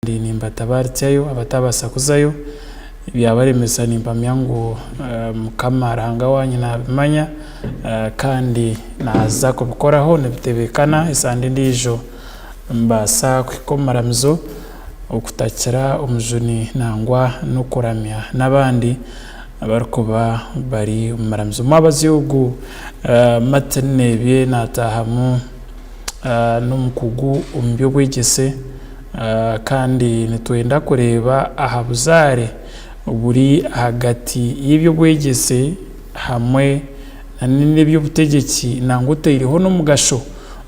kandi nimbatabaaritsyayo abataabaasa kuzayo. Ebyabaremesa nimpamya ngu Mukama Ruhanga waanyu naabimanya kandi naaza kubikoraho nibitebeekana esande endiijo nimubaasa kuhika omu maramizo okutakira omujuni nangwa n'okuramya n'abandi abarikuba bari omu maramizo. Omwabazyo ogu Martin Nebye naataahamu n'omukugu omu by'obwegyese. Kandi nitwenda kureeba aha buzaare oburi ahagati y'eby'obwegyese hamwe n'eby'obutegyeki nangwa otaireho n'omugasho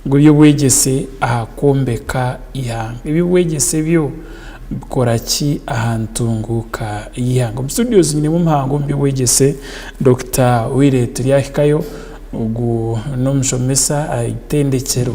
gw'eby'obwegyese aha kwombeka eihanga. Eby'obwegyese byo bikora ki aha ntunguuka y'eihanga? Omu studio twinemu omuhanga omu by'obwegyese Dokita Willy Turyahikayo. Ogu n'omushomesa aha itendekyero.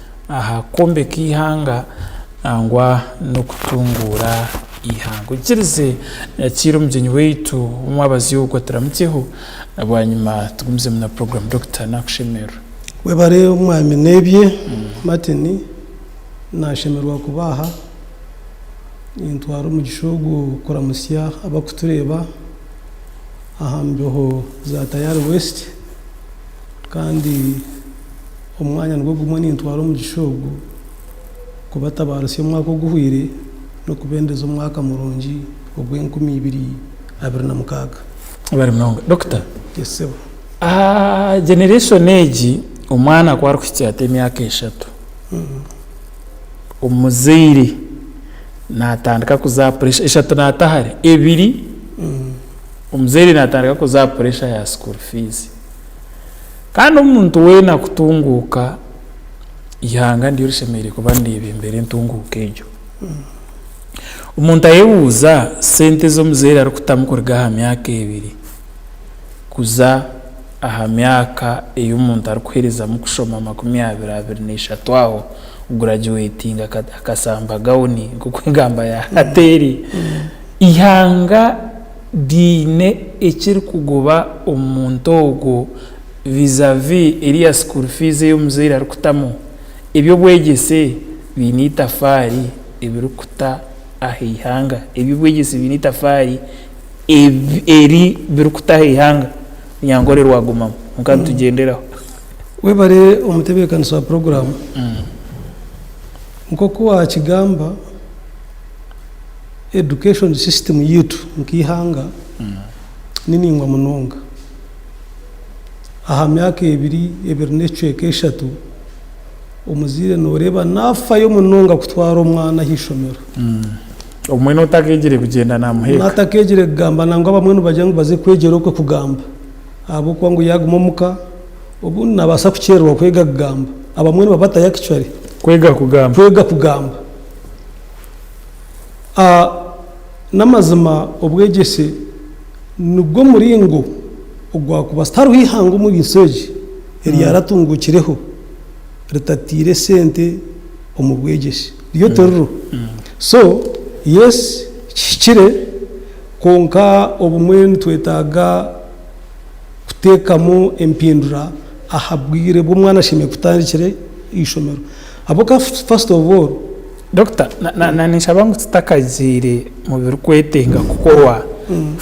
aha kwombeka eihanga nangwa n'okutunguura eihanga. Oikirize nyakiira omugyenyi waitu ow'omwabaziogwa turamukyeho bwanyima tugumizemu na program Dokita nakushemerera. Webare omwami nebye Martin nashemererwa kuba aha. Nintwara omugisha ogu kuramutsya abakutureeba aha mbeho za Tayari West kandi. Omwanya nigwo gumwe nintwara omugisha ogu kubatabaarisa omwaka oguhwire n'okubendeza omwaka murungi ogwa enkumi ibiri abiri na mukaaga. Bari munonga. Dokita. Yes sebo. Aha generation egi omwana ku arikuhikya ata emyaka eshatu, omuzaire natandika kuza aha pressure, eshatu nata hare, ebiri omuzaire natandika kuza aha pressure ya school fees. Kandi omuntu weena kutunguuka, eihanga niryo rishemereire kuba niryebeembera entunguuka egyo. Omuntu ayebuuza, sente ezi omuzaire arikutamu kuruga aha myaka ebiri kuza aha myaka ei omuntu arikuherezamu kushoma makumi abiri, abiri n'eshatu aho, kuguragyuwetinga akashamba gawuni, nk'oku engamba ya hati eri, eihanga. biine ekirikugoba omu muntu ogwo vis-a-vis eriya school fees ei omuzaire arikutamu, eby'obwegyese biine eitafaari ebirikuta aha eihanga, eby'obwegyese biine eitafaari eri birikuta aha eihanga, Munyankore rwagumamu kwonka nitugyendereraho. Webare omutebekanisa wa puroguramu, nkoku wakigamba. Education system yaitu nk'eihanga ni naingwa munonga. Aha myaka ebiri, ebiri n'ekicweka eshatu, omuzaire noreeba nafayo munonga kutwara omwana aha ishomero. Obumwe notakegire kugyenda namuheeka. Natakegire kugamba nangwa abamwe nibagira ngu baze kwegyera okwe kugamba ahabw'okuba ngu yaguma omuka obundi nabasa kukyererwa kwega kugamba. Abamwe nibabatayo actually. Kwega kugamba. Kwega kugamba. A N'amazima obwegyese nigwo muringo ogwakubaasa. Tihariho eihanga omu ensi egi eryaratunguukireho ritataire sente omu bwegyese. Ryo tiririho. So yes kihikire kwonka obumwe nitwetaaga kuteekamu empindura aha bwire obu omwana ashemereire kutandikira eishomero. Habw'okuba first of all Doctor ninshaba ngu tutakagiire mu birikwetenga kukorwa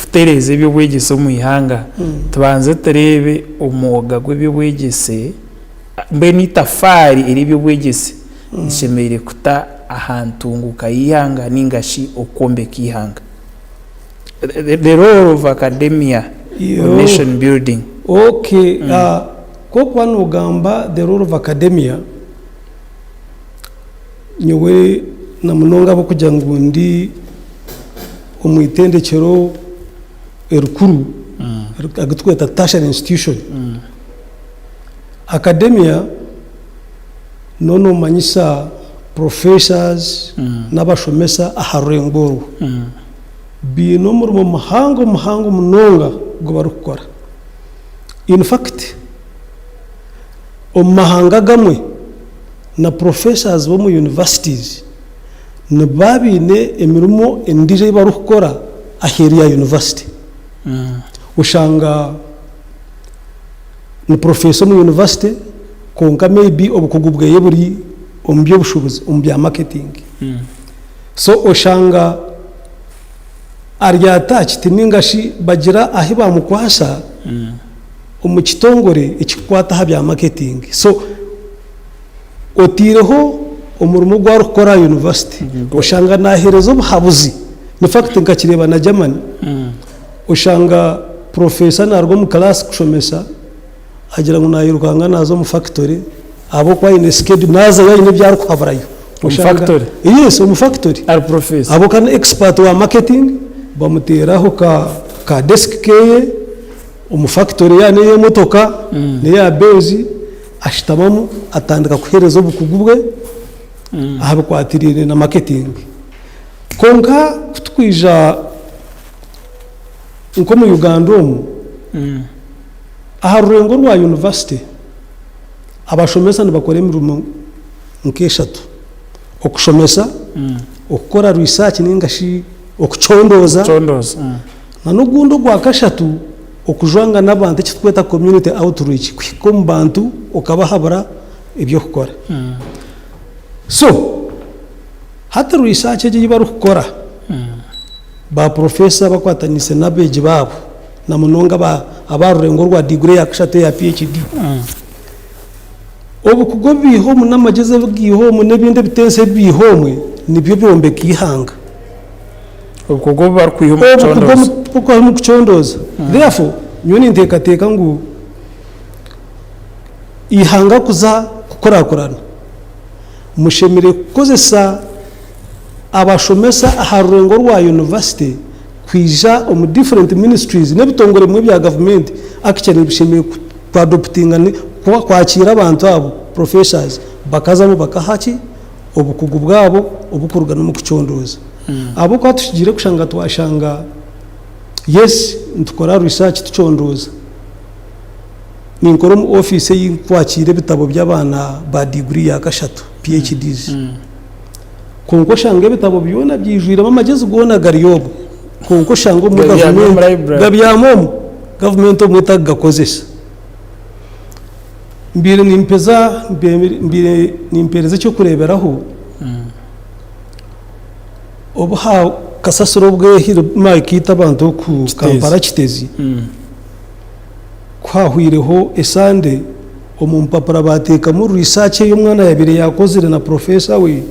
kutereeza eby'obwegyese omu ihanga tubanze tureebe omwoga gw'eby'obwegyese mbwenu eitafaari ery'eby'obwegyese rishemereire kuta aha ntunguuka y'eihanga nainga shi okwombeka eihanga. Kw'okuba noogamba The Role of Academia, nyowe na munonga ahabw'okugira ngu ndi omu itendekyero erikuru agu turikweta Tertiary Institution, Academia niho noomanyisa professors n'abashomesa aha rwego orwo. baine omurimo muhango muhango munonga ogu barikukora. In fact, omu mahanga agamwe na professors b'omu universities niba baine emirimo endiijo ei barikukora aheeru ya university. Oshanga ni professor omu university kwonka may be obukugu bwe buri omu by'obushubuzi, omu bya marketing. So oshanga ari attached ninga shi bagira ahi bamukwasa omu kitongore ekikukwata aha bya marketing. So oteireho omurimo ogu arikukora aha university, oshanga nahereza obuhabuzi. In fact nkakireeba na Germany, oshanga professor naruga omu class kushomesa, Agira ngu nairukanga naza omu fakitori ahabwokuba aine schedule nazayo aine ebi arikuhaburayo. Omu fakitori? Yes omu fakitori. Ari professor? Ahabwokuba ni expert wa marketing. Bamuteeraho ka ka desk keye omu fakitori ya neya emotoka neya Benz ashutamamu atandika kuhereza obukugu bwe ahabikwatirine na marketing. Kwonka kutukwija. Nk'omu Uganda omu, aha rurengo rwa yunivasite, abashomesa nibakora emirimo nk'eshatu, okushomesa, okukora riisaaki nainga shi okucondooza, n'ogundi ogwa kashatu okujwanga n'abantu eki turikweta community outreach, kuhika omu bantu okabahabura eby'okukora. So, hati riisaaki egi ei barikukora, Baaporofesa bakwataniise n'abeegi baabo, na munonga aba aba rurengo rwa diguri yaakushatu eya PHD, obukugu obu baiha omwe n'amagyezi agu gaiha omwe n'ebindi ebitensi ebi baiha omwe nibyo byombeka eihanga. Obukugu obu barikwiha omu Obukugu kucondooza. omu- obukugu omu kucondooza. Therefore, nyowe ninteekateeka ngu eihanga kuza kukurakurana, mushemereire kukozesa abashomesa aha rurengo rwa yunivasite kwija omu different ministries n'ebitongore bimwe bya gavumenti actually nibishemereire ku ku adoptinga ni kwa kwakiira abantu abo professors bakazamu bakaha ki obukugu bwabo obukuruga n'omu kucondooza ahabw'okuba tukigiire kushanga twashanga yes nitukora research tucondooza ninkora omu office ei kwakiira ebitabo by'abaana ba diguri ya kashatu PHDs. Kwonka oshanga ebitabo byona byijwiremu amagezi goona gari omwo. Kwonka oshanga obumwe gavumenti gabyami omwo, gavumenti obumwe etakugakozesa. Mbaire nimpeza mbaire nimpereza ekyokureberaho obu ha kasasiro obwehire bumara kuita abantu oku Kampala Kitezi. Ku haahwaireho esande, omu mpapura baateekamu riisaaki ei omwana yaabaire yaakozire na purofeesa we,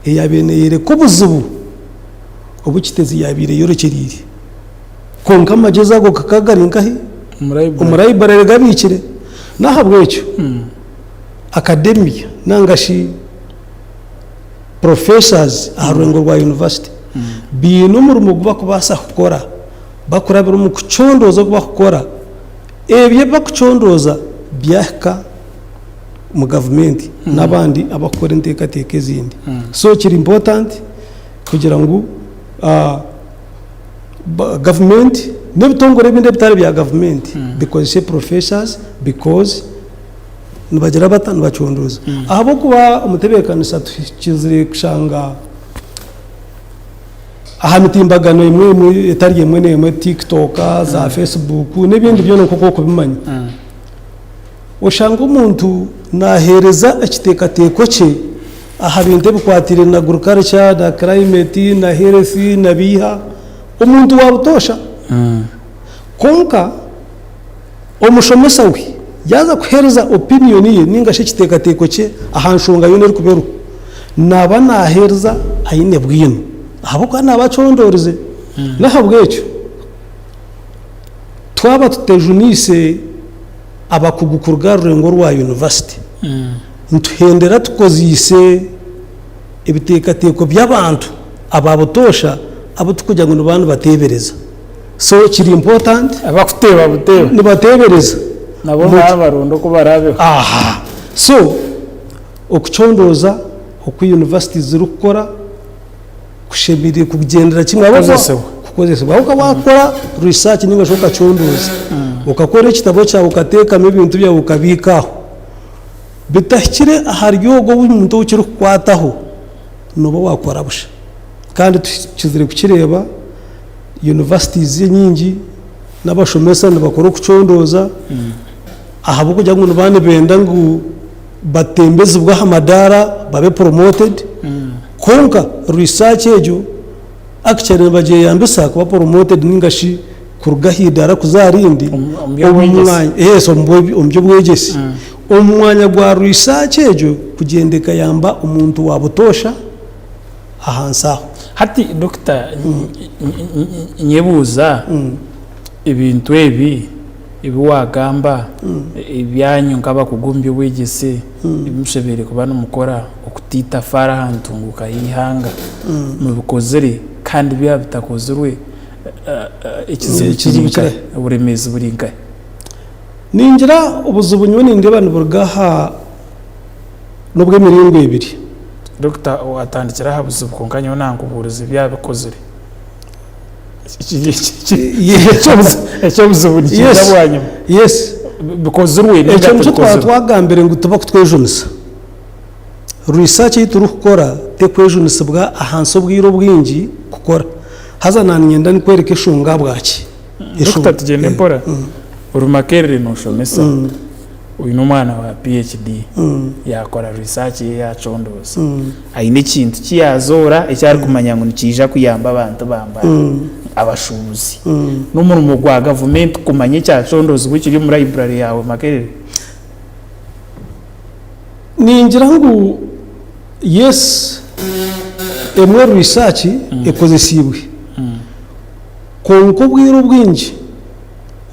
eyaabaire neeyoreka obuzibu obu Kitezi yaabaire eyorekyereire. Kwonka amagyezo ago gakaba gari nkahi? Omu laiburari gabiikire. N'ahabw'ekyo, akademiya nainga shi purofeesazi aha rwego rwa yunivasite baine omurimo ogu barikubaasa kukora. Bakurabira omu kucondooza oku barikukora, ebyo ebi barikucondooza byahika omu gavumenti n'abandi abarikukora enteekateeka ezindi. So kiri important kugira ngu gavumenti n'ebitongore ebindi ebitari bya gavumenti bikozese professors because nibagira bata? Nibacondooza. Ahabw'okuba omu tebeekanisa tuhikiriire kushanga... aha mitimbagano emwe emwe etari emwe n'emwe TikTok, za mm. Facebook n'ebindi byona nk'oku okubimanya mm. oshanga omuntu naheereza ekiteekateeko kye aha bintu ebikwatire na agriculture na climate na health na biiha omuntu wa butoosha mm. kwonka Omushomesa we yaaza kuheereza opiniyoni ye nainga shi ekiteekateeko kye aha nshonga yoona erikuba eriho, naaba naaheereza aine bwino ahabw'okuba naaba acondoorize. N'ahabw'ekyo, twaba tutejuniise abakugu kuruga aha rurengo rwa yunivasite, nituhendera tukoziise ebiteekateeko by'abantu aba butoosha abu turikugira ngu nibaaba nibateebereza. So kiri important. Abakuteeba buteeba. Nibateebereza. Nabo nibaba baronda oku baraabeho. Aha. So okucondooza oku university zirikukora kushemereire kugyendera kimwe Kukozesebwa. kukozesebwa. Ahabw'okuba waakora research nainga shi okacondooza, okakora ekitabo kyawe okateekamu ebintu byawe okabiika aho, bitahikire ahari ogwo omuntu ou kirikukwataho, nooba waakora busha. Kandi tukizire kukireeba. Universities enyingi n'abashomesa nibakora okucondooza ahabw'okugira ngu niba nibenda ngu batembezibwe aha madaara babe promoted kwonka research egyo actually nibagyeyambisa kuba promoted nainga shi kuruga aha idaara kuza aha rindi omu by'obwegyese. Yes, omu bwe- omu by'obwegyese. Omu mwanya gwa research egyo kugyenda ekayamba omuntu wa butoosha, ahansi aho. Hati Dokita nyebuuza ebintu ebi ebi wagamba ebyanyu nk'abakugu omu by'obwegyese ebi mushemereire kuba nimukora okuta eitafaari aha ntunguuka y'eihanga mubikozire kandi byaba bitakozirwe ekizibu kiri nkahi, oburemeezi buri nkahi? Ningira obuzibu nyowe nindeeba niburuga aha n'obw'emiringo ebiri. Dokita atandikire aha buzibu kwonka nyowe nankubuuriza ebi abikozire. Eky'obuzibu nikiija bwanyima. Bikozirwe ninga tibikozirwe. Ekyo nikyo twaba twagambire ngu tibarikutwejunisa. Research ei turikukora terikwejunisibwa ahansi obwire obwingi kukora. Haza naanye niinyenda nikworeka enshonga ahabwaki. Dokita tugyende mpora, ori Makerere noshomesa, oyine omwana wa PHD yakora research ye yacondooza ayine ekintu kiyazoora eki arikumanya ngu nikiija kuyamba abantu ba mbara, abashubuzi, n'omurimo gwa gavumenti kumanya ekyacondoozibwe ekiri omu library yaawe Makerere? Ningira ngu yes, emwe research ekozesiibwe. Kwonka obwire obwingi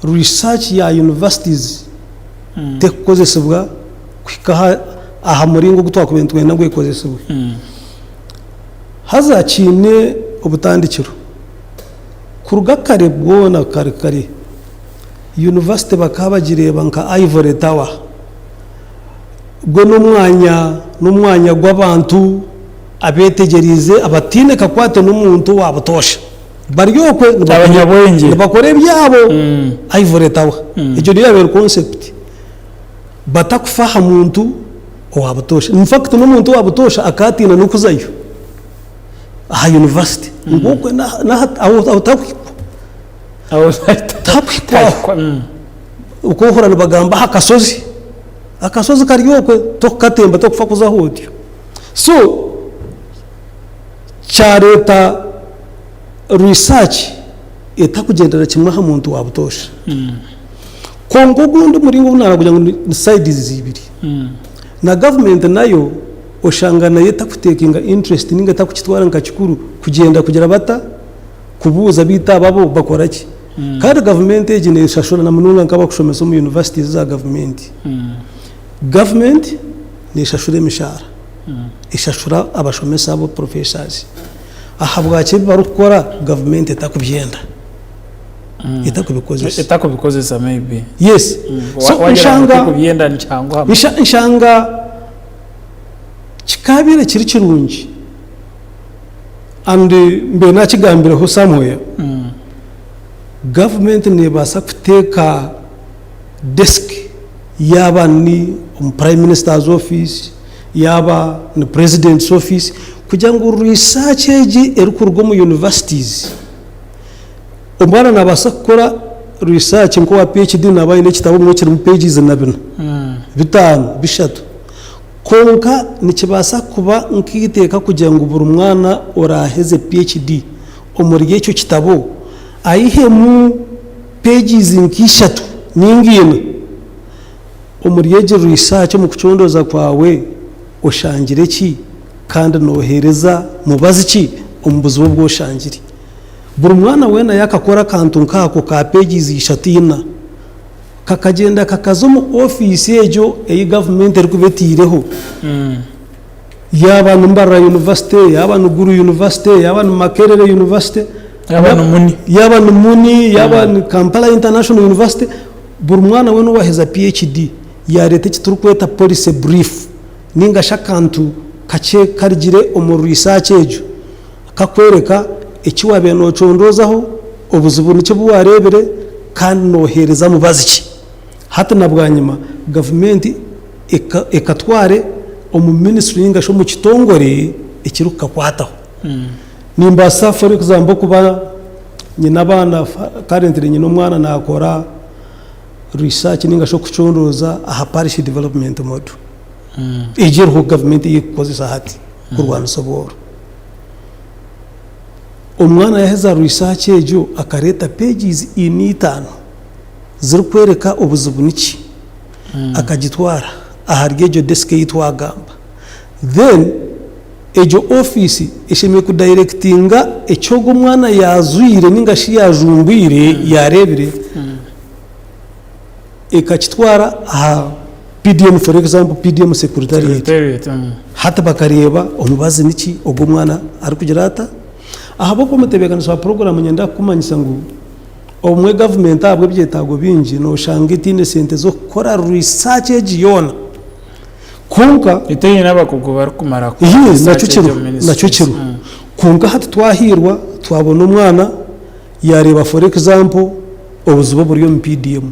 research ya universities terikukozesibwa kuhika aha muringo ogu twakubaire nitwenda ngu ekozesibwe. Haza kiine obutandikiro. Kuruga kare bwona kare kare, university bakaba bagireeba nka ivory tower. Gwe n'omwanya n'omwanya gw'abantu abeetegyereize abataine kakwate n'omuntu owa butoosha. Bari okwe nibakora ebyabo ivory tower egyo niyo yabere concept bata kufa aha muntu owa butosha infact nomuntu owa butosha akaba atine nokuzayo aha university ngu okwe aho tahikwa tahikwa aho nikwo ohurira nibagamba aha kasozi akasozi kari okwe tokukatemba tokufa kuzaho otyo so Kyareeta risaaki etakugyendera kimwe aha muntu wa butoosha. Kwonka ogundi muringo ogu naareba kugira ngu ni sides ziibiri. Na gavumenti nayo oshanga nayo etakutekinga interest ninga etakukitwara nka kikuru kugyenda kugira bata, kubuuza beitu aba bo bakora ki. Kandi gavumenti egi neeshashura na munonga nk'abakushomesa omu universities za gavumenti. Gavumenti neeshashura emishaara, eshashura abashomesa abo, professors. Ahabwaki ebi barikukora gavumenti etakubyenda, etakubikozesa? Etakubikozesa maybe. Yes. So Waagira ngu nshanga tikubyenda nikyanguhamu. nsha- nshanga kikaabaire kiri kirungi and mbaire naakigambireho somewhere, gavumenti neebaasa kuteeka Desk, Yaaba ni omu Prime Minister's Office, yaaba ni President's Office, kugira ngu research egi erikuruga omu Universities, omwana naabaasa kukora research nk'owa PHD naaba aine ekitabo bumwe kirimu pages na bina, bitaano, bishatu. Kwonka nikibaasa kuba nk'eiteeka kugira ngu buri mwana oraaheze PHD omuri ekyo kitabo, aihemu. Pages nka ishatu ninga ina omuri egi research omu kucondooza kwawe oshangire ki kandi nohereza mubazi ki omu buzibu obu oshangire? Buri mwana wena yakakora akantu nka ako ka pages ishatu ina kakagyenda kakaza omu office egyo eyi gavumenti erikuba eteireho. Yaaba ni Mbarara University, yaaba ni Gulu University, yaaba ni Makerere University, Yaaba ni Muni. yaaba ni Muni, yaaba ni Kampala International University, buri mwana weena owaaheza PHD yaareeta eki turikweta Policy Brief nainga shi akantu kakye karugire omu research egyo kakworeka eki waabaire noocondozaho, obuzibu niki obu waareebire kandi nooheereza mubazi ki. Hati na bwanyima gavumenti ekatware omu minisitule ninga shi omu kitongore ekiri kukakwataho. Nimbaasa for example kuba nyine abaana currently nyine omwana nakora research ninga shi okucunduuza aha parish development model egi eriho gavumenti ei erikukozesa hati kurwanisa obworo. Omwana yaheza research egyo akareeta pages eina itaano zirikworeka obuzibu niki akagitwara ahari egyo desk eyi twagamba then egyo office eshemereire ku directinga eki ogwo omwana yazwire ninga shi yajumbwire yarebire ekakitwara aha PDM for example PDM secretariat hati bakareba omubazi niki ogwo omwana arikugira ata ahabwokuba omutebekanisa wa program nyenda kukumanyisa ngu obumwe gavumenti ahabw'ebyetaago bingi nooshanga etaine esente z'okukora research egi yoona kwonka Etaine n'abakugu barikumara kukora Iyee, nakyo research egi kiriho, omu nakyo ministries. kiriho. Mm. Kwonka hati twahairwa twabona omwana yaareeba for example obuziba oburi omu PDM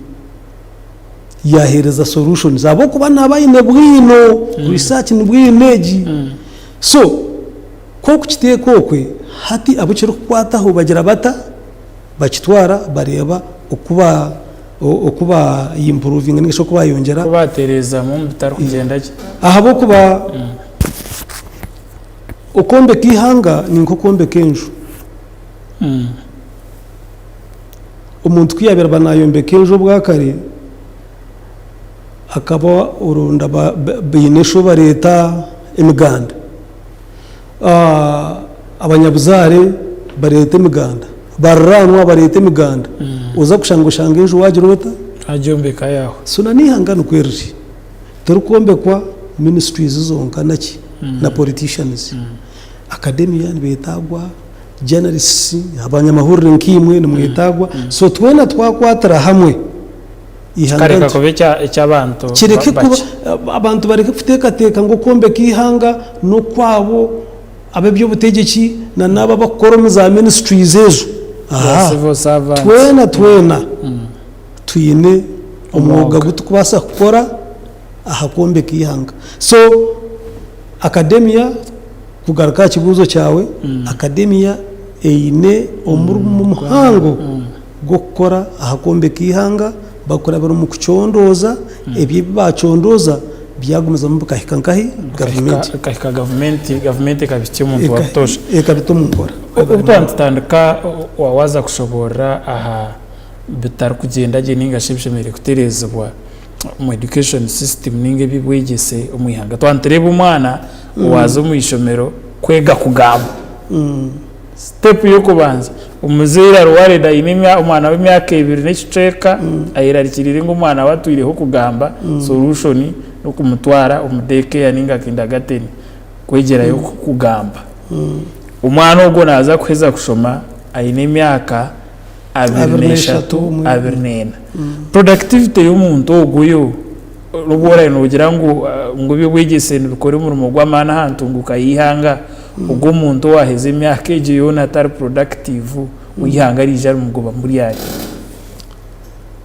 yaaheereza solutions ahabw'okuba naaba aine bwino, research nibwo aine egi. So ku okukiteeka okwe, hati abu kirikukwataho bagira bata? bakitwara bareeba oku ba improvinga ningashi oku bayongyera. Oku batereezamu omu bitarikugyenda gye. Ahabw'okuba okwombeka eihanga ni nk'okwombeka enju. Omuntu ku yaabaire naayombeka enju obwakare, akaba orwo baine shi ou bareeta emiganda. abanyabuzaare bareeta emiganda, bariraanwa bareeta emiganda, oza kushanga oshanga enju waagira ota? Waagyombeka yaawe. So na n'eihanga nikwo riri. Tirikwombekwa ministries zonka naki na politicians. Academian beetaagwa, journalists, abanyamahurire nkaimwe nimwetaagwa. So twena twakwatira hamwe. kikareka kuba eky'abantu bakye. Abantu bareke kuteekateeka ngu okwombeka eihanga n'okwabo ab'eby'obutegyeki nana abo abarikukora omu za ministries ezo. Twena twena twine omwoga ogu turikubaasa kukora aha kwombeka eihanga. So akademiya, kugaruka aha kibuuzo kyawe, akademiya eine omurimo muhango gw'okukora aha kwombeka eihanga bakurabira omu kucondooza ebyo ebi baacondooza byagumizamu bikahika nkahi? Gavumenti. Bikahika gavumenti, gavumenti ekabihikya omuntu wa butoosha. Ekabita omu nkora. Obu twaba nitutandika waaza kushoboorora aha bitarikugyenda gye nainga shi ebishemereire kutereezibwa omu education system nainga eby'obwegyese omu ihanga. Twaba nitureeba omwana owaaza omu ishomero kwega kugamba. Sitepu y'okubanza, Omuzaire ari worried aine omwana w'emyaka ebiri n'ekicweka ayerarikiriire ngu omwana we atwireho kugamba, solution n'okumutwara omu day care ninga kindagateeni kwegyerayo kugamba. Omwana ogwo naaza kuheza kushoma aine emyaka abiri n'eshatu, abiri n'ena. Productivity y'omuntu ogwo yo. N'obu oraabe noogira ngu eby'obwegyese nibikora omurimo gw'amaani aha ntunguuka y'eihanga, ogwo omuntu owaaheza emyaka egyo yoona atari purodakitiivu, ou eihanga riraija rimugobamu ryari?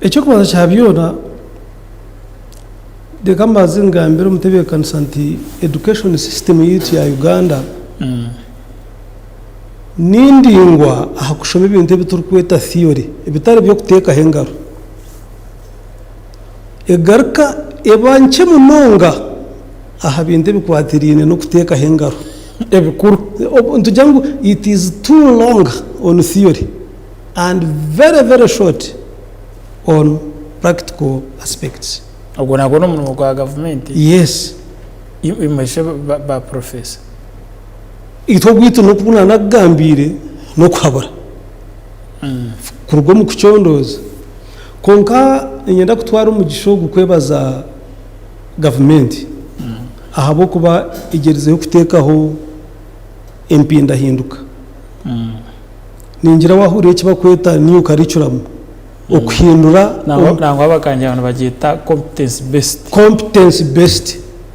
Eky'okubanza kya byona, reka mbanze ngambire omutebeekanisa nti education system yaitu ya Uganda ni ndaingwa aha kushoma ebintu ebi turikweta theory, ebitari eby'okuteekaho engaro. egaruka eba nkye munonga aha bintu ebikwatiraine n'okuteekaho engaro ebikuru. Nitugira ngu it is too long on theory and very very short on practical aspects. Ogwo nagwo n'omurimo gwa gavumenti? Yes. Imwe shi ba professor? Itwe ogwitu n'oku naanakugambiire n'okuhabura. kuruga omu kucondooza. Kwonka niinyenda kutwara omugisha ogu kwebaza gavumenti ahabw'okuba egyerizeho kuteekaho empindahinduka. Ningira waahurira eki barikweta New Curriculum, okuhindura. Nangwa nangwa bakangira ngu nibagyeta competence based. Competence based.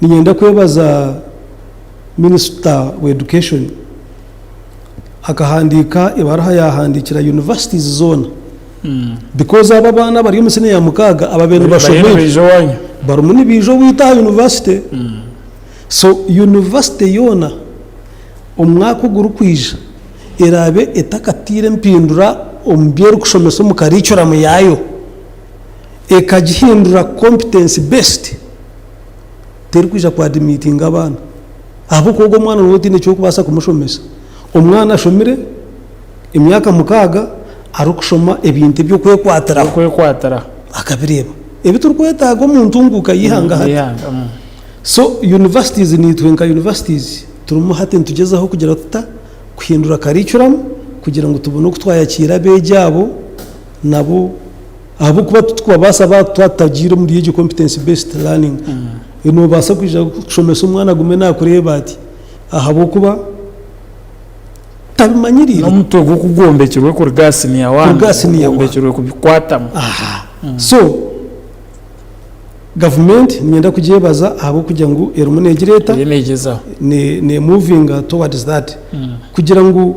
ninyenda kwebaza Minisita wa Education akahandiika ebaruha yahandiikira Universities zoona because abo abaana abari omu siniya ya mukaaga ababaire nibashomera barimu nibaija owaitu aha University so University yoona omu mwaka ogurikwija eraabe etakataire empindura omu bi erikushomesa omu curriculum yaayo. Ekagihindura competency based terikwija ku admittinga abaana ahabw'okuba ogwo omwana nooba otaine ky'okubaasa kumushomesa. Omwana ashomire emyaka mukaaga arikushoma ebintu eby'okwekwatiraho Okwekwatiraho. akabireeba ebi turikwetaaga omu ntunguuka y'eihanga hati. Y'eihanga, mm. So universities naitwe nka universities turimu hati nitugyezaho kugira tuta kuhindura curriculum kugira ngu tubone oku twayakiira abeegi abo nabo Ahabw'okuba titwabaasa ba twatagiire omuri egyo competence based learning e noobaasa kwija kushomesa omwana agume naakureeba ati ahabw'okuba tabimanyiriire. N'omutwe gwe ku gwombekirwe kuruga aha siniya waani, Kuruga aha siniya waani. gwombekirwe kubikwatamu. Aha. So, gavumenti niinyenda kugyebaza ahabw'okugira ngu erimu neegireeta, Eriyo neegyezaho. ne- neemuvinga towards that kugira ngu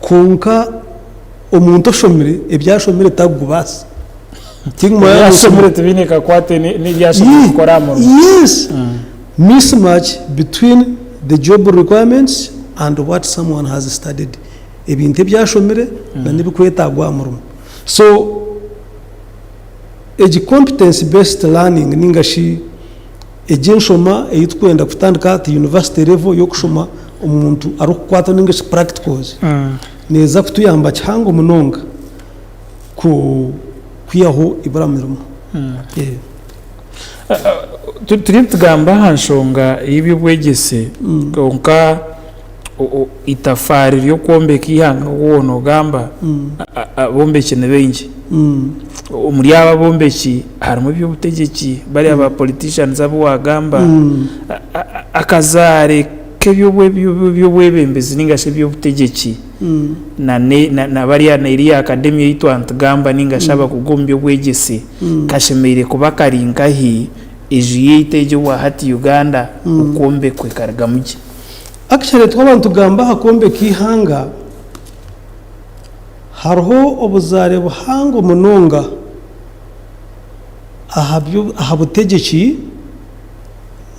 Kwonka omuntu oshomire ebyashomire takugubaasa. Ebyashomire tibiine kakwate n'ebi ashemereire kukora aha murimo. Yes! Mismatch between the job requirements and what someone has studied. Ebintu ebi ashomire na n'ebikwetagwa aha murimo. So, egi competence based learning ninga shi. Egi enshoma ei turikwenda kutandika at university level y'okushoma omuntu arikukwatwa ninga shi practicals neeza kutuyamba kihango munonga kwihaho ibura mirimu. Turiyo nitugamba aha nshonga y'eby'obwegyese kwonka. o- o- eitafaari ry'okwombeka eihanga oku woona ogamba a- a- abombeki ni baingi. Omuri abo abombeki harimu eby'obutegyeki bariya ba politicians abu waagamba, a- a- a- akazaare k'eby'obwe- by'obwe- by'obwebembezi nainga shi eby'obutegyeki na ne- na- na bariya na eriya academia ei twanitugamba nainga shi abakugu omu by'obwegyese kashemereire kuba kari nkahi enju yaitu egi obwa hati Uganda okwombekwa ekarugamu gye? Actually twaba nitugamba aha kwombeka eihanga, hariho obuzaare buhango munonga aha butegyeki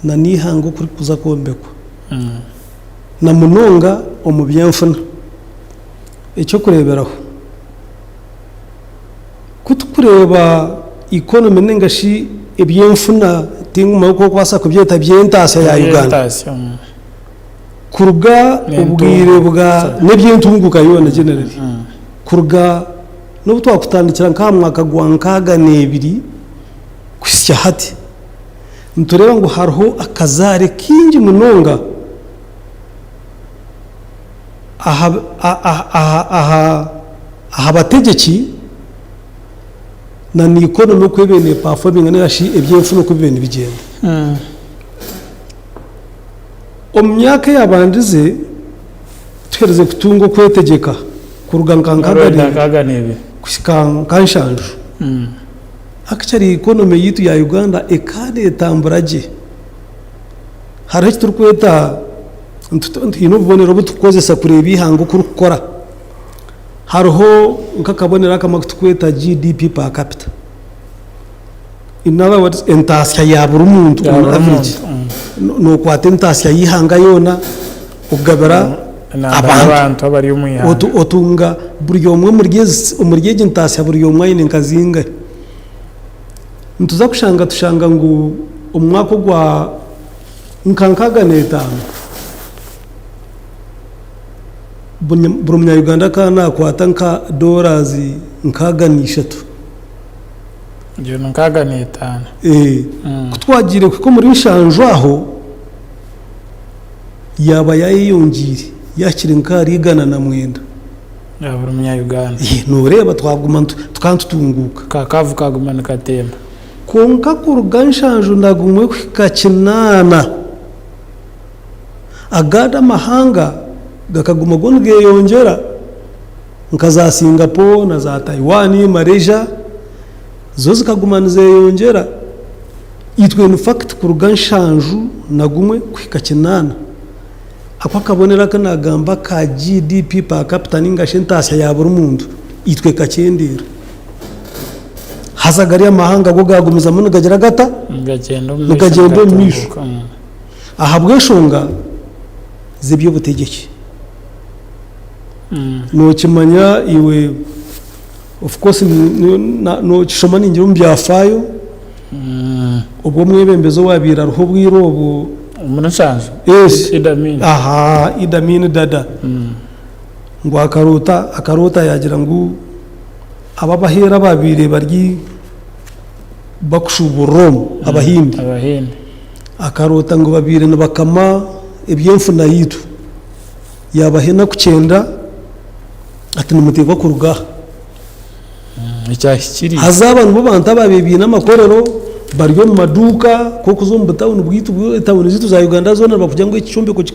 nana eihanga oku ririkuza kwombekwa na munonga omu by'enfuna. Eky'okureeberaho. Ku turikureeba economy nainga shi ebyenfuna tingumanyi oku orikubaasa kubyeta by'entaasya ya Uganda. Kuruga obwire bwa n'ebyentunguuka yoona generally. Kuruga n'obu twakutandikira nk'aha mwaka gwa nkaaga n'ebiri kuhitsya hati, nitureeba ngu hariho akazaare kaingi munonga. aha bategyeki na naikono n'oku eriyo neepafominga nainga shi ebyenfuna oku biriyo nibigyenda. Omu myaka eyaabandize, tuherize kutunga okwetegyeka kuruga nka nkaaga n'ebiri kuhika nka nshanju, actually economy yaitu ya Uganda ekaba neetambura gye. Hariho eki turikweta twine obubonero obu turikukoresa kureeba eihanga oku ririkukora. Hariho nk'akabonero akamwe aku turikweta GDP per capita. In other words, entaasya ya buri muntu Ya on buri average. muntu, mm. Nookwata entaasya y'eihanga yoona okugabira Enamba abantu. y'abantu abari omu ihanga. Otu- Otunga buri omwe omuri ezi- omuri egi ntaasya buri omwe aine nka zingahe. Nituza kushanga tushanga ngu omu mwaka ogwa nka nkaaga n'etaano, buri munyayuganda akaba naakwata nka dorazi nkaaga n'eishatu. Egyo ni nkaaga n'etaano. Eeh. Ku twagiire kuhika omuri nshanju aho, yaaba yaayeyongiire yaahikire nka ahari igana na mwenda. Ya buri munyayuganda. Eeh, nooreeba twaguma tukaba nitutunguuka. Ka kaavu kaaguma nikatemba. Kwonka kuruga nshanju na gumwe kuhika kinaana, agandi amahanga gakaguma go nigeyongyera, nka za Singapore na za Taiwan, Malaysia zo zikaguma nizeyongyera. Itwe in fact kuruga nshanju na gumwe kuhika kinaana, ako akabonero aku nagamba aka GDP per capita ninga shi entaasya ya buri muntu, itwe ekakyendeera. Haza gari amahanga go gaagumizamu nigagira gata? Nigagyenda omu maisho. Nigagyenda omu maisho. nigatunguuka. Mm. Ahabw'enshonga z'eby'obutegyeki. Mm. Nookimanya iwe, of course, ni- ni- na- nookishoma ningira omu byafaayo, Mm. obwo omwebembezi owaabaire ariho obwire obwo, Omuri Nshanju. Yes. Idi Amin. aha, Idi Amin Dada, Mm. ngu akaroota, akaroota yaagira ngu Aba abaheeri abaabaire bari bakushuuburira omu, Abahindi, Abahindi. akaroota ngu babaire nibakama eby'enfuna yaitu, yaabaha enaku kyenda ati, Nimuteekwa kuruga aha. Ekyahikiriire. Haza aba nibo bantu abaabaire baine amakorero, bari omu maduuka, nk'okuza omu butauni bwaitu bwo, etauni zaitu za Uganda zoona nibakugira ngu eki kyombeko ki,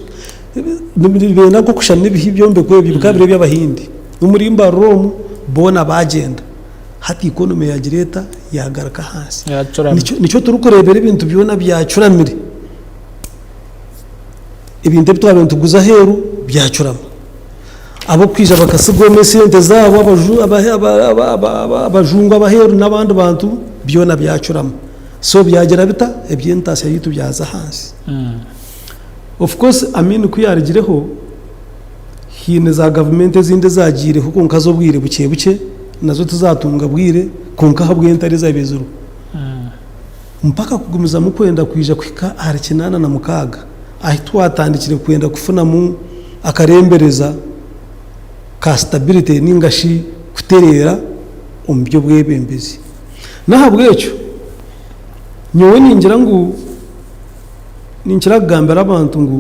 nibeenda nk'okushushana ebihi ebyombeko ebyo bikaba biri eby'Abahindi. N'omurimba rura omu, boona baagyenda. Hati ikonomi yaagira eta? Yaagaruka ahansi. Nikyo turikureebera ebintu byona byacuramire. Ebintu ebi twabaire nituguza aheeru byacurama. Ab'okwija bakatsiga omu esente zaabo, abajungu ab'aheeru n'abandi bantu byona byacurama. So byagira bita? Eby'entaasya yaitu byaza ahansi. Of course Amin ku yaarugireho, haine zaagavumenti ezindi ezaagaireho kwonka z'obwire bukye bukye, nazo tizaatunga bwire kwonka ahabw'entaro ezaabaire ziriho. Mpaka kugumizamu kwenda kwija kuhika ahari kinaana na mukaaga ahi twatandikire kwenda kufunamu akarembereza ka stability nainga shi kutereera omu by'obwebembezi. N'ahabw'ekyo, nyowe ningira ngu, ninkira kugambira abantu ngu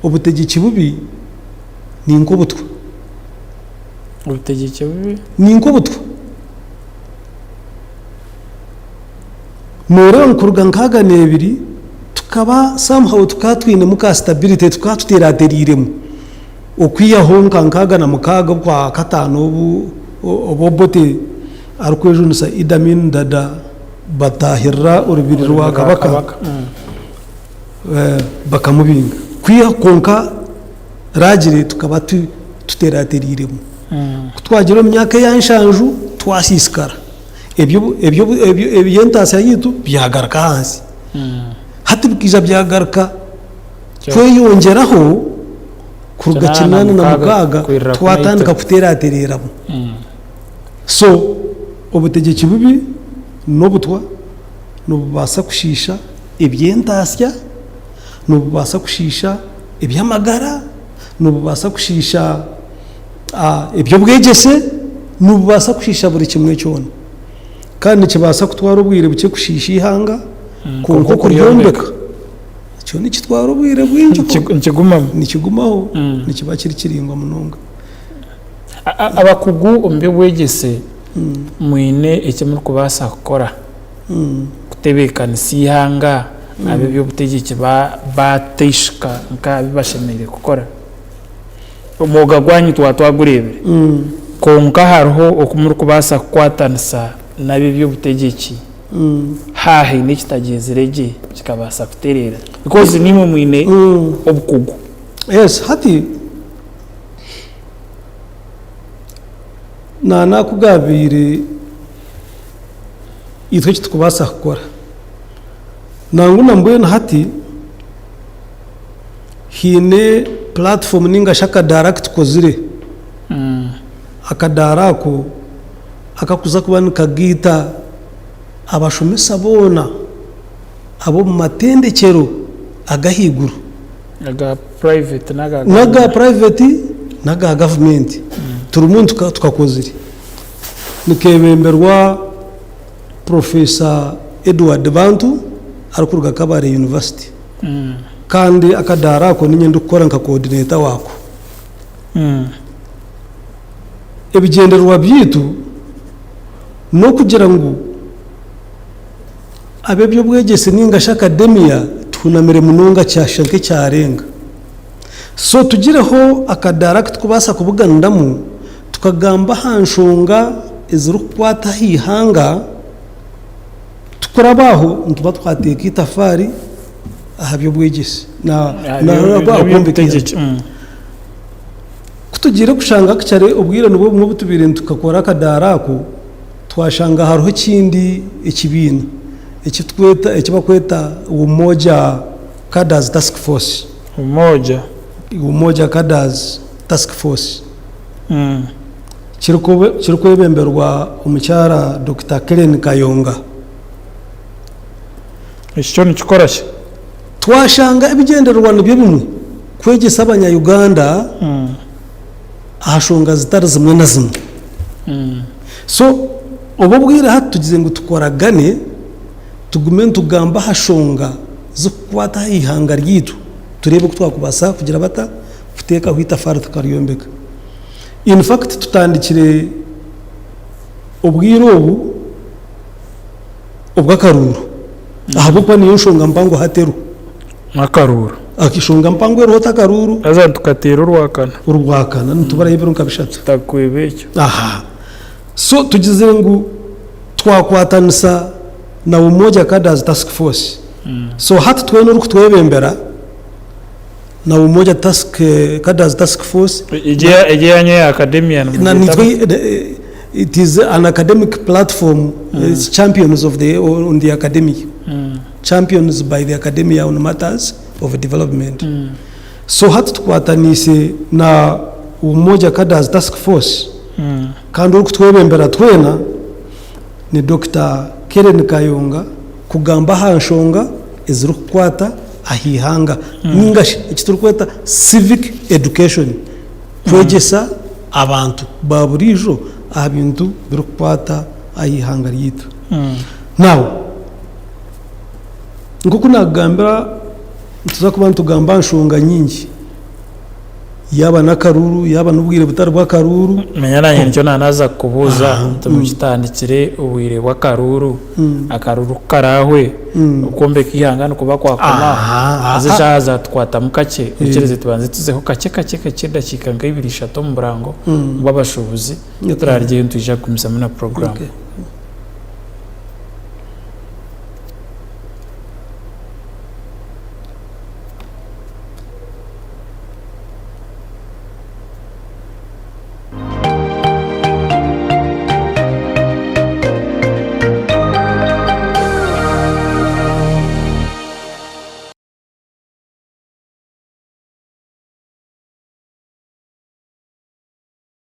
obutegyeki bubi ni nk'obutwa. Obutegyeki bubi. Ni nk'obutwa. Nooreeba ngu kuruga nkaaga n'ebiri tukaba somehow tukaba twinemu ka stability, tukaba tuteerateereiremu okwihaho nka nkaaga na mukaaga obukwa kataano obu Obote arikwejunisa Idi Amin Dada, Batahirira orubiri rwa kabaka bakamubinga kwiha kwonka Ragire tukaba tuterateriremu. Ku twagira omu myaka eya nshanju twasisikara eby'entaasya yaitu byagaruka ahansi. Hati bikaija byagaruka kweyongyeraho kuruga kinana na mukaaga twatandika kuteratereramu. So obutegyeki bubi n'obutwa nibubaasa kushiisha eby'entaatsya, nibubaasa kushiisha eby'amagara, nibubaasa kushiisha eby'obwegyese, nibubaasa kushiisha buri kimwe kyona. Kandi nikibaasa kutwara obwire bukye kushiisha eihanga, mm, kwonka okuryombeka kyo nikitwara obwire bwingi nikigumaho, mm. nikiba kiri kiraingwa munonga. Abakugu omu by'obwegyese mwine eki murikubaasa kukora kutebeekanisa eihanga ab'eby'obutegyeki baateishika nk'abi bashemereire kukora? Omwoga gwanyu twaba twagureebire, kwonka hariho oku murikubaasa kukwatanisa n'ab'eby'obutegyeki haahaine ekitagyenzire gye kikabaasa kutereera? Bikozi naimwe mwine obukugu. Hati nana ku gaabaire itwe eki turikubaasa kukora. Nangwa na mbwenu hati haine puratifomu nainga shi akadaara aku tukozire. Akadaara ako akarikuza kuba nikageita abashomesa boona ab'omu matendekyero ag'ahaiguru. N'aga puraiveti n'aga gavumenti. Turimu nitukakozire. Nikeebemberwa Professor Edward Bantu arikuruga Kabale University. Kandi akadaara ako niinye ndikukora nka coordinator waako. Ebigyendererwa byaitu n'okugira ngu. Ab'eby'obwegyese ninga shi akademiya tuhunamire munonga kyashusha nk'ekyarenga. So tugireho akadaara aku turikubaasa kubuganiramu tukagamba aha nshonga ezirikukwata aha ihanga. Tukuraba aho nituba twateeka eitafaari aha by'obwegyese. Ku tugiire kushanga ku kyare obwire nibwo bumwe obu tubaire nitukakora akadaara ako, Twashanga hariho ekindi ekibiina eki bakweta Umoja Cadres Task Force. Umoja. Umoja Cadres Task Force. Kirikwebemberwa omukyara Dokita Kellen Kayonga. Eki kyo nikikora ki? Twashanga ebigyendererwa nibyo bimwe, kwegyesa abanya Uganda. aha nshonga zitari zimwe na zimwe. So obu obwire hati tugize ngu tukoragane tugume nitugamba aha nshonga zikukwata aha ihanga ryaitu tureebe oku twakubaasa kugira bata, kuteekaho eitafaari tukaryombeka. In fact tutandikire obwire obu obw'akaruuru ahabw'okuba niyo nshonga mpango hati eriho. Akaruuru. Akishonga mpango eriho ota akaruuru. Haza nitukateera orwakana. Orwakana nituburayo ebiro nka bishatu. Tutakukweba ekyo. Aha. So tugizire ngu twakwatanisa na Umoja Cadres Task Force. So hati twena orikutwebembera na Umoja Task Cadres Task Force. Egyo egyo eyanyu eya Academia nimugyetamu? It is an academic platform, it's champions of the on the academia. Champions by the Academy ya on Matters of Development. So hati tukwatanise na Umoja Cadres Task Force kandi orikutwebembera twena ni Dokita Kellen Kayonga kugamba aha nshonga ezirikukwata aha ihanga ninga shi eki turikweta Civic Education, kwegyesa abantu ba buriijo aha bintu birikukwata aha ihanga ryaitu. Now, nk'oku naakugambira nituza kuba nitugamba aha nshonga nyingi, yaaba n'akaruuru, yaaba n'obwire butari bw'akaruuru. Manya naanye nikyo naanaaza kukubuuza nti mukitandikire obwire bw'akaruuru, akaruuru ku karaahwe, okwombeka eihanga nikuba kwakomaho, haza eshaaha zaatukwatamu kakye, oikirize tubanze tuzeho kakye kakye kakye edakiika nka ibiri ishatu omu burango bw'abashuubuzi. Nyowe turaryeyo nitwija kugumizamu na program. Okay.